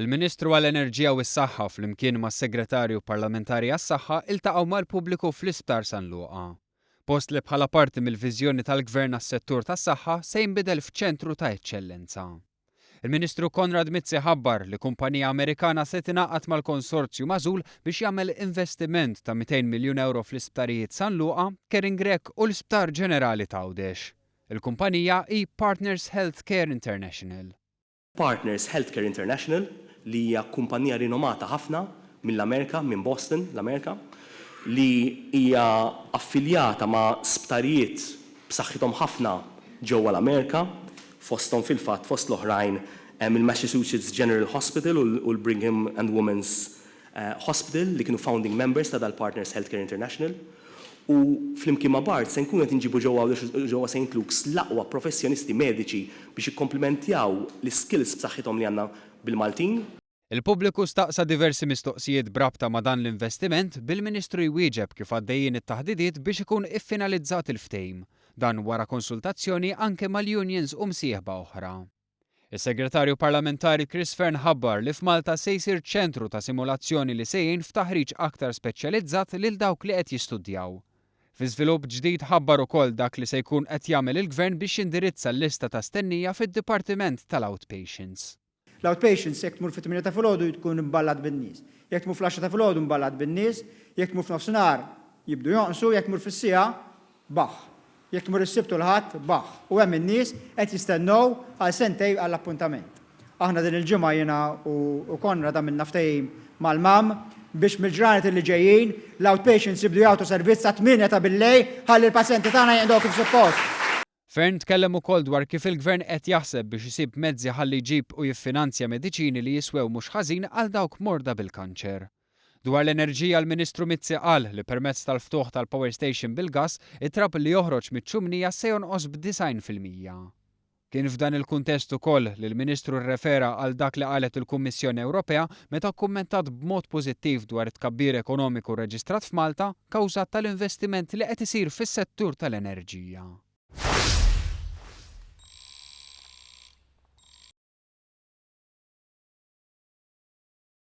Il-Ministru għall-Enerġija u s-Saħħa flimkien mas-Segretarju Parlamentari għas-Saħħa ltaqgħu mal-pubbliku fl-Isptar San Luqa, post li bħala parti mill-viżjoni tal-Gvern għas-settur tas-saħħa se jinbidel f'ċentru ta' eċċellenza. Il-Ministru Konrad Mizzi ħabbar li kumpanija Amerikana se tingħaqad mal-konsorzju magħżul biex jagħmel investiment ta' 200 miljun ewro fl-isptarijiet San Luqa, Kering Grech u l-Isptar Ġenerali t'Għawdex. Il-kumpanija hi Partners Health Care International. Partners Healthcare International, li hija kumpannija rinomata ħafna mill-Amerika, minn Boston, l-Amerika, li hija affiljata ma' sptarijiet b'saħħithom ħafna ġewwa l-Amerika, fosthom fil-fatt fost l-oħrajn hemm il-Massachusetts General Hospital u l-Brigham and Women's Hospital li kienu founding members ta' dal-Partners Healthcare International u flimkien ma' Bart se nkunu qed inġibu ġewwa Għawdex u ġewwa Saint Luke's l-aqwa professjonisti mediċi biex jikkomplimentjaw l-iskills b'saħħithom li għandna bil-Maltin. Il-pubbliku staqsa diversi mistoqsijiet b'rabta ma' dan l-investiment bil-Ministru jwieġeb kif għaddejjin it-taħdidiet biex ikun iffinalizzat il-ftehim, dan wara konsultazzjoni anke mal-unions u msieħba oħra. Is-Segretarju Parlamentari Chris Fearne ħabbar li f'Malta se jsir ċentru ta' simulazzjoni li se jgħin f'taħriġ aktar speċjalizzat lil dawk li qed jistudjaw. Fi żvilupp ġdid ħabbar ukoll dak li se jkun qed jagħmel il-Gvern biex jindirizza l-lista ta' stennija fid-dipartiment tal-outpatients. L-outpatients jekk tmur fit-tmienja ta' filgħodu tkun imballat bin-nies. Jekk tmur fl-għaxra ta' filgħodu mballat bin-nies, jekk tmur f'nofsinhar jibdu jonqsu, jekk tmur fis-siegħa Baħħ. Jekk tmur is-Sibt u l-Ħadd, baħħ. U hemm in-nies qed jistennew għal sentejn għall-appuntament. Aħna din il-ġimgħa jiena u Konrad għamilna ftehim mal-MAM biex mill-ġranet li ġejjin l-outpatients jibdu jagħtu servizz sat-tmienja ta' billejl ħalli l-pazjenti tagħna jinqdew kif suppost. Fearne tkellem ukoll dwar kif il-Gvern qed jaħseb biex isib mezzi ħalli jġib u jiffinanzja mediċini li jiswew mhux ħażin għal dawk morda bil-kanċer. Dwar l-enerġija l-Ministru Mizzi qal li permezz tal-ftuħ tal-power station bil-gass, it-trab li joħroġ miċ-ċumnija se jonqos b'disgħin fil-mija. Kien f'dan il-kuntest ukoll li l-Ministru rrefera għal dak li qalet il-Kummissjoni Ewropea meta kkummentat b'mod pożittiv dwar it-tkabbir ekonomiku rreġistrat f'Malta kawżat tal-investiment li qed isir fis-settur tal-enerġija.